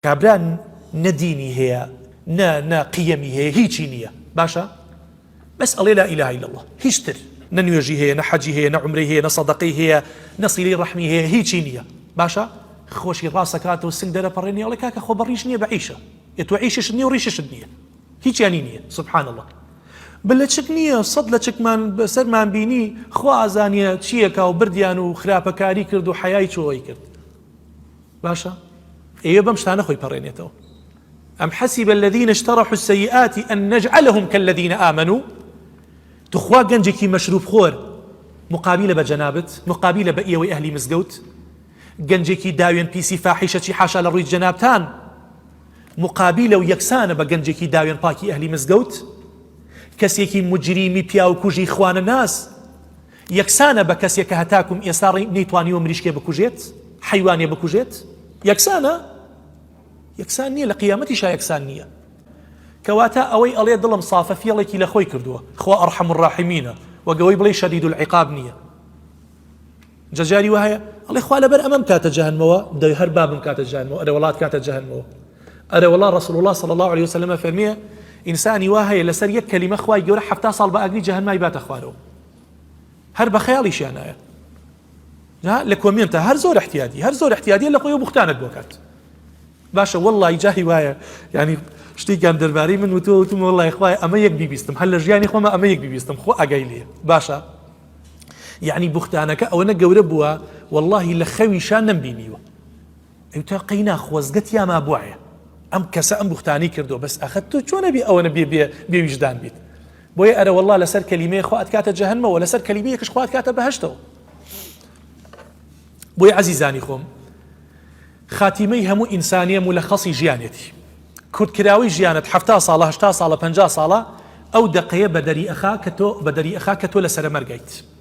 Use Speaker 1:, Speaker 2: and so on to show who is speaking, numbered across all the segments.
Speaker 1: کابرا نە دینی هەیە نە نە قیەمی هەیە هیچی نییە باشە بەس ئەڵێ لا اله الا الله هیچ تر نە نوێژی هەیە نە حەجی هەیە نە عمرەی هەیە نە سەدەقەی هەیە نە سیلەی ڕەحمی هەیە هیچی نییە باشە خۆشی ڕاستەکات و سنگ دەرەپەڕێنی ئەڵێ کاکە خۆ بەڕیش نییە بە عیشە ئێ تۆ عیششت نییە و ڕیششت نییە هیچیانی نییە سبحان الله بە لەچک نییە سەد لەچکمان بەسەرمان بینی خوا ئازانە چییەکە و بردیان و خراپەکاری کرد و حەیای چۆی کرد باشە ئەیە بەم شتانە خۆی پەڕێنێتەوە ئەم حەسیب الذين اشترحوا السيئات ان نجعلهم كالذين آمنوا تخوا گەنجێکی مەشروب خۆر مقابلە بە جەنابت مقابلە بە ئێوەی ئەهلی مزگەوت گەنجێکی داوێن پیسی فاحیشەچی حاشا لە ڕووی جەنابتان مقابلە و یەکسانە بە گەنجێکی داوێن پاکی ئەهلی مزگەوت کەسێکی مجریمی پیاوکوژی خوانە ناس یەکسانە بە کەسێک کە هەتاکوم ئێستا ڕێی نەیتوانیوە مریشکێ بکوژێت، حەیوانێ بکوژێت؟ یەکسانە؟ یەکسان نیە لە قیامەتیشا یەکسان نیە. کەواتە ئەوەی ئەڵێ دڵم سافە فێڵێکی لە خۆی کردووە، خوا ارحم الراحمینە وەک ئەوەی بڵێی شدید العقاب نیە. جا جاری وا هەیە ئەڵێ خوا لەبەر ئەمە بمکاتە جەهەنمەوە، دەی هەر با بمکاتە جەهەنمەوە، ئەرێوەڵا ئەتکاتە جەهەنمەوە. ئەرێوەڵا رسول اللە صلی اللە علیە وسلم ئەفەرموێ ئینسانی وا هەیە لەسەر یەک کەلیمە خوای گەورە حەفتا ساڵ بە ئاگری جەهەنمای باتە خوارەوە. هەر بەخەیاڵیشیان نایە لە کۆمێنتە هەر زۆر احتیادی هەر زۆر احتیادی لە خۆی بوختانت بۆکات باشە واللهی جاهی وایە ینی شتێکیان دەربارەی من وتۆ وتم وڵی خخوای ئەمە یەک بیبیستم هەر لە ژیانی خۆمە ئەمە یەک بیبیستم خۆ ئەگەی لێ باشە یعنی بوختانەکە ئەوەنە گەورە بووە واللهی لە خەویشان نەمبینیوە ئەوتا قەینا خۆزگە تیا مابوایە ئەم کەسە ئەم بوختانەی کردوە بەس ئەخە تۆ چۆن ئەبی ئەوەنە بێ بێ بێ ویژدان بیت بۆیە ئەرە واللە لەسەر کەلیمەیە خوا ئەتکاتە جەهەنمەوە لەسەر کەلیمەیەکش خوا ئەتکاتە بەهەشتەوە بۆی عەزیزانی خۆم خاتیمەی هەموو ئینسانیە مولەخەسی ژیانێتی کورتکراوی ژیانت هەفتا ساڵە هەشتا ساڵە پەنجا ساڵە ئەو دەقەیە بەدەری ئەخا کە تۆ بەدەری ئەخا کە تۆ لە سەرە مەرگیت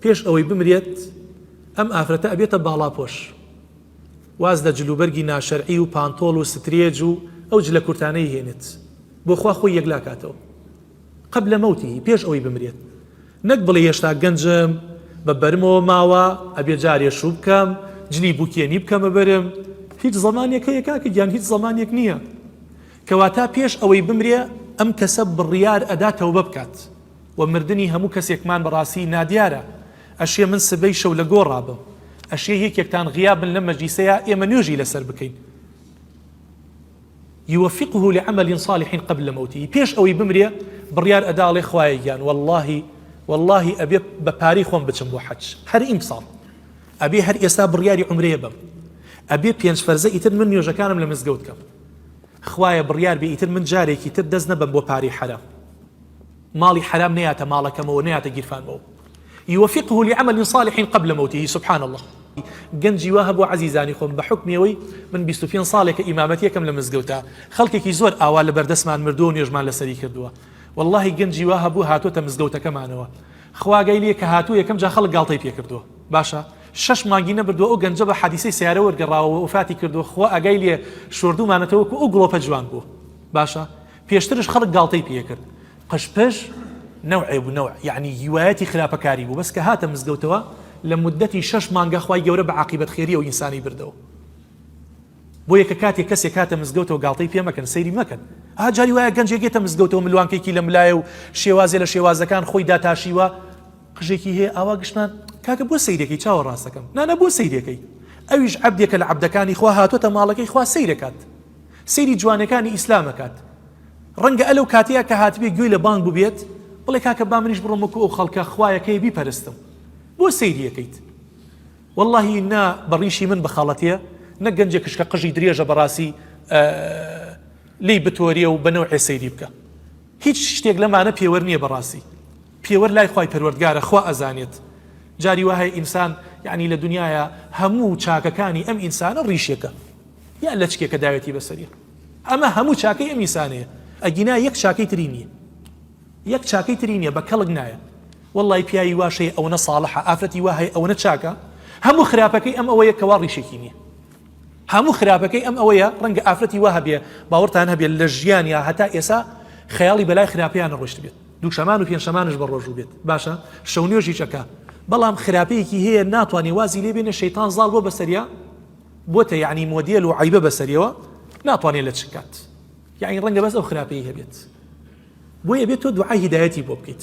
Speaker 1: پێش ئەوەی بمرێت ئەم ئافرەتە ئەبێتە باڵاپۆش واز لە جلوبەرگی ناشەرعی و پانتۆڵ و سترێج و ئەو جلە کورتانەی هێنێت بۆ خوا خۆی یەکلاکاتەوە قبل موته پێش ئەوەی بمرێت نەک بڵێ هێشتا گەنجم بە بەرمەوە ماوە ئەبێ جارێ شوو بکەم جلی بوکێنی بکەمە بەرم هیچ زەمانێک هەیە کاکە گیان هیچ زەمانێک نییە کەواتا پێش ئەوەی بمرێ ئەم کەسە بڕیار ئەدا تەوبە بکات و مردنی هەموو کەسێکمان بەڕاستی نادیارە ئەشێ من سبەی شەو لە گۆڕا بم ئەشێ یەکێکتان غیاب بن لەم مەجلیسەیا ئێمە نوێژی لەسەر بکەین یوفقه لعمل صالح قبل موته پێش ئەوەی بمرێ بڕیار ئەدا ئەڵێ خوایە گیان واللهی واللهی ئەبێ بە پارەی خۆم بچم بۆ حەج هەر ئیمساڵ ئەبێ هەر ئێستا بڕیاری عمرەیە بم ئەبێ پێنج فەرزە ئیتر من نوێژەکانم لە مزگەوت کەم خوایە بڕیار بێ ئیتر من جارێکی تر دەست نەبەم بۆ پارەی حەرام ماڵی حەرام نەیاتە ماڵەکەمەوە نەیاتە گیرفانمەوە یوفقه لعمل صالح قبل موته سبحان اللە گەنجی وا هەبوو عەزیزانی خۆم بە حکمی ئەوەی من 25 ساڵێکە ئیمامەتیەکەم لە مزگەوتە خەڵکێکی زۆر ئاوا لە بەردەستمان مردووە نوێژمان لەسەری کردووە واللهی گەنجی وا هەبوو هاتوۆتە مزگەوتەکەمانەوە خواگەی لێ کە هاتوو یەکەم جا خەڵک گاڵتەی پێکردووە باشە شش مانگی نەبردووە ئەو گەنجە بە حەدیسەی سیارە وەرگەڕاوە وفاتی کردووە خوا ئەگای لێ شۆردومانەتەوەکو ئەو گڵۆپە جوان بوو باشە پێشترش خەڵک گاڵتەی پێ کرد قژ پژ نەوعێ بوو نەوع یەعنی هیوایەتی خراپەکاری بوو بەس کە هاتە مزگەوتەوە لە مودەتی شەش مانگە خوای گەورە بە عاقیبەت خێریەوە ئینسانی بردەوە بۆیە کە کاتێ کەسێک هاتە مزگەوتەوە گاڵتەی پێ مەکەن سەیری مەکەن ها جاری وایە گەنجێک یێتە مزگەوتەوە ملوانکێکی لەم لایە و شێوازێ لە شێوازەکان خۆی داتاشیوە قژێکی هەیە ئاوا گشتمان کاکە بۆ سەیرەکەی چاوە ڕاستەکەم نانە بۆ سەیرەکەی ئەویش عەبدێکە لە عەبدەکانی خوا هاتۆتە ماڵەکەی خوا سەیرەکات سەیری جوانەکانی ئیسلام ئەکات ڕەنگە ئەلەو کاتەیە کە هاتبێ گوێی لە بانگ ببێت بڵێ کاکە با منیش بڕۆم وەکو ئەو خەڵکە خوایەکەی بیپەرستم بۆ سەیریەکەیت واللهی نا بەڕیشی من بخەڵەتێ نە گەنجێ کشکە قژی درێژە بەڕاستی لی بتۆریە و بەنەو عێسەیری بکە هیچ شتێک لەمانە پێوەەر نییە بەڕاستی پێوەەر لای خی پەروەردگارە خوا ئەزانێت جاری وهەیە ئینسان یعنی لە دنیاە هەموو چاکەکانی ئەم ئینسانە ڕیشێکە یان لەچکێکە داوێتی بەسەری. ئەمە هەموو چاکەی ئەم ئینسانەیە ئەگینا یەک چاکەی تری نیە یەک چاکەی تری نیە بە کەڵک نایە وەڵی پیاوی واش هەیە ئەوەنە ساڵحە ئافرەتی وا هەیە ئەوەنە چاکە هەموو خراپەکەی ئەم ئەوەیە کەوا ڕیشێکی نیە هەموو خراپەکەی ئەم ئەوەیە ڕەنگە ئافرەتی وا هەبێ باوەڕتان هەبێت لە ژیان یا هەتا ئێسا خەیاڵی بەلای خراپیان نەڕۆشت بێت دووشەمان و پێنجشەمانش بە ڕۆژوو بێت باشە شەونێژیشەکە بەڵام خراپەیەکی هەیە ناتوانێ وازی لێبێنە شەیتان زاڵ بۆ بەسەریا بۆتە یەعنی مۆدێل و عەیبە بەسەریەوە ناتوانێت لەچک کات یەعنی ڕەنگە بەس ئەو خراپەی هەبێت بۆیە بێت تۆ دوعای هیدایەتی بۆ بکەیت.